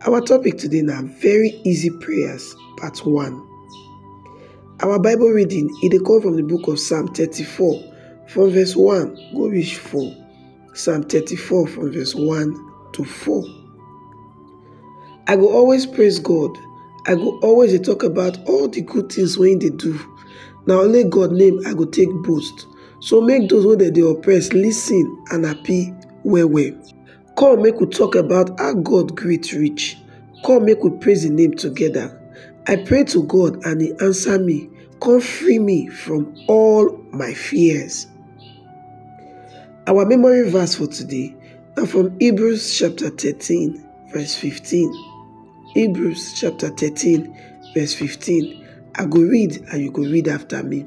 Our topic today na very easy prayers part one. Our Bible reading e dey come from the book of Psalm thirty-four from verse one go reach four. Psalm thirty-four from verse one to four. I go always praise God, I go always dey talk about all the good things wey im dey do. Na only God name I go take boast, so make those wey dem dey oppress listen and happy well well. Come make we talk about how God great reach, come make we praise im name together. I pray to God and he answer me, come free me from all my fears. Our memory verse for today na from Hebrews chapter 13 verse 15. Hebrews chapter 13 verse 15. I go read and you go read after me.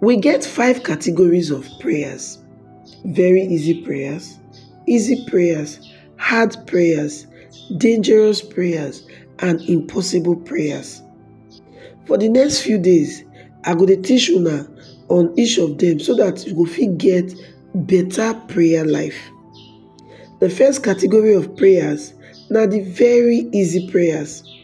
We get five categories of prayers very easy prayers, easy prayers, hard prayers, dangerous prayers, and impossible prayers. For the next few days, I go to teach una on each of them so that you go fit get better prayer life. The first category of prayers now the very easy prayers.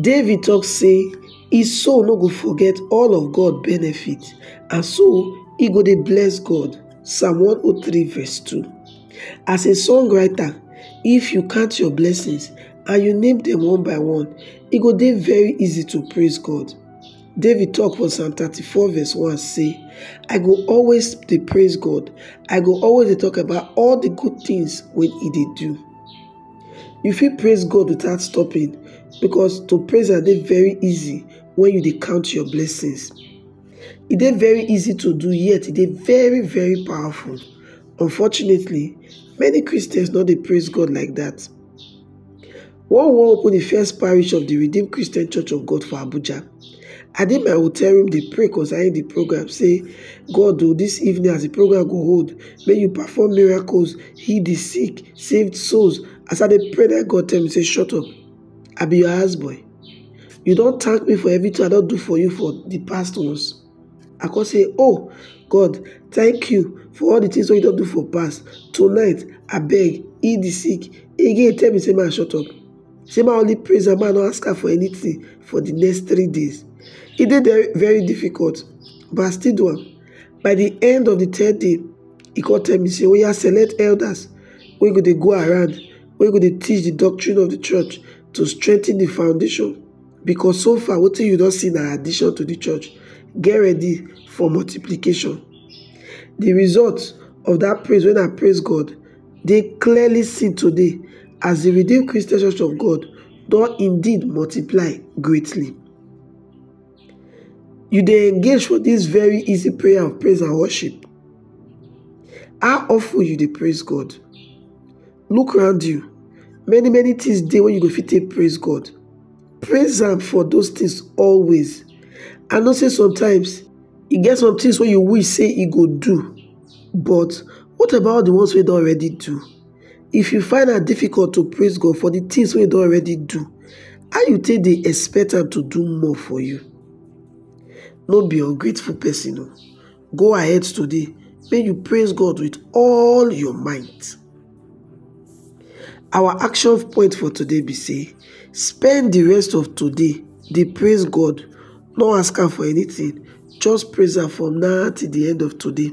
David talk say e soul no go forget all of God benefit and so e go dey bless God Psalm 103 verse 2 As a songwriter if you count your blessings and you name them one by one e go dey very easy to praise God David talk for Psalm 34 verse 1 say I go always dey praise God I go always dey talk about all the good things wey e dey do You fit praise God without stopping because to praise am dey very easy when you dey count your blessings. E dey very easy to do yet e dey very very powerful. Unfortunately, many Christians no dey praise God like that. When we wan open the first parish of the Redeemed Christian Church of God for Abuja, I dey my hotel room dey pray concerning the program say, God o, this evening as the program go hold, make you perform miracles, heal the sick, saved souls as i dey pray let god tell me say shut up i be your house boy you don thank me for everything i don do for you for the past ones i come say oh god thank you for all the things wey you don do for past tonight abeg heal the sick again tell me say man shut up say man only praise am man no ask am for anything for the next three days e dey very difficult but i still do am by the end of the third day he come tell me say oya select elders wey go dey go around wey go dey teach the doctrine of the church to strengthen the foundation because so far wetin you don see na addition to the church get ready for multiplication the result of that praise when I praise God dey clearly seen today as the redeemed Christian church of God don indeed multiply greatly. you dey engage for this very easy prayer of praise and worship? How often you dey praise God? Look around you. Many many things dey wey you go fit take praise God. Praise am for those things always. I know say sometimes e get some things wey you wish say e go do but what about the ones wey don already do? If you find am difficult to praise God for the things wey he don already do, how you take dey expect am to do more for you? No be ungrateful person o. Go ahead today make you praise God with all your might. Our action point for today be say spend the rest of today dey praise God, no ask am for anything, just praise am from now till the end of today.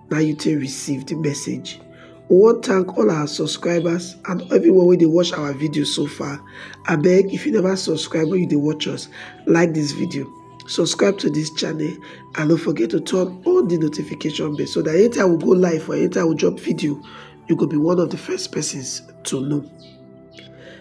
na you take receive the message we wan thank all our subscribers and everyone wey dey watch our video so far abeg if you never subscribe when you dey watch us like this video subscribe to this channel and don't forget to turn on the notification bell so that anytime we go live or anytime we drop video you go be one of the first persons to know